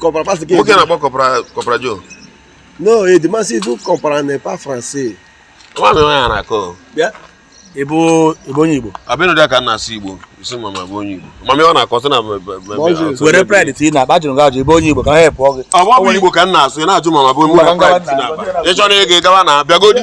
Comprends pas ce qu'il dit? Nwoke na-akpọ Corporal Joe. Non, il demande si vous comprenez pas français. Ama m ihe ọ na-akọ. Bịa. Ị bụ ị bụ onye Igbo. Abinu dị aka na-asụ Igbo. Ị sị ma m abụ onye Igbo. Ma mi ọ na-akọ sị na were pride ti na ba jụrụ gị ajụ ị bụ onye Igbo ka ha help gị. Ọ bụ Igbo ka m na-asụ, ị na-ajụ ma m abụ onye Igbo ka m na-asụ. Ị chọrọ ịga gawa na bịagodi.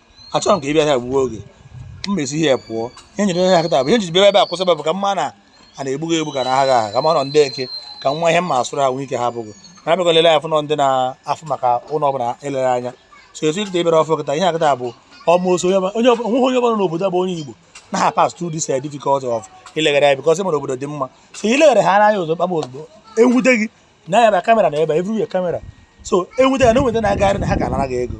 achọrọ m ka ị bịa ya gbuo oge m mesi ihe pụọ ihe nyere ihe akịta bụ ihe m jiri bịa ebe a kwụsị bụ ka mma na a na-egbugo egbu ka na agha agha ka ma nọ ndị eke ka nwa ihe mma asụrụ ha nwee ike ha bụgo na abịago lele afụ nọ ndị na-afụ maka ụlọ ọbụla elere anya so etu ikịta ịbịara ọfụ kịta ihe akịta bụ almost onye onweghị onye ọbụla n'obodo bụ onye Igbo na ha pass through this difficult of ileghara ya because ịmara obodo dị mma so ileghara ha anya ozugbo kpagba ozugbo enwute gị na ya bịa kamera na ebe everywhere kamera so enwute ya na enweta na-agagharị na ha ga-anara gị ego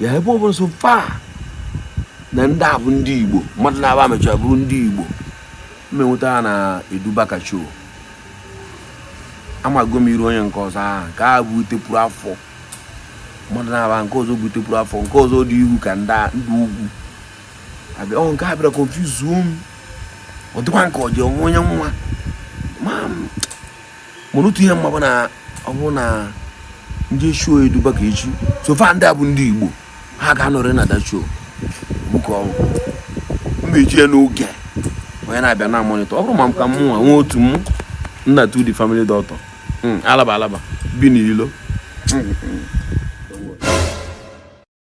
ya ebe ọ bụla so far na ndị a bụ ndị igbo mmadụ naabọ mechara bụrụ ndị igbo m nweta ha na edubakacho amago m iru onye nke ọzọ ahụ nke a butepụrụ afọ mmadụ naabọ nke ọzọ butepụrụ afọ nke ọzọ dị ihu ka ndị ugwu abịa ọ nke a bịara konfuzuo m ọ dịkwa nke ọ dị onwe onye nwa ma mana otu ihe m ma bụ na ọ bụrụ na ndị echuo eduba ka echi so far ndị a bụ ndị igbo ha ga-anọrị na dachuo buka ọnwụ mba eji ya n'oge onye na-abịa na-amonitọ ọ bụrụ ma m ka mụnwa nwee otu mụ nna to the family doctor hmm, alaba alaba bi n'ilo hmm, hmm.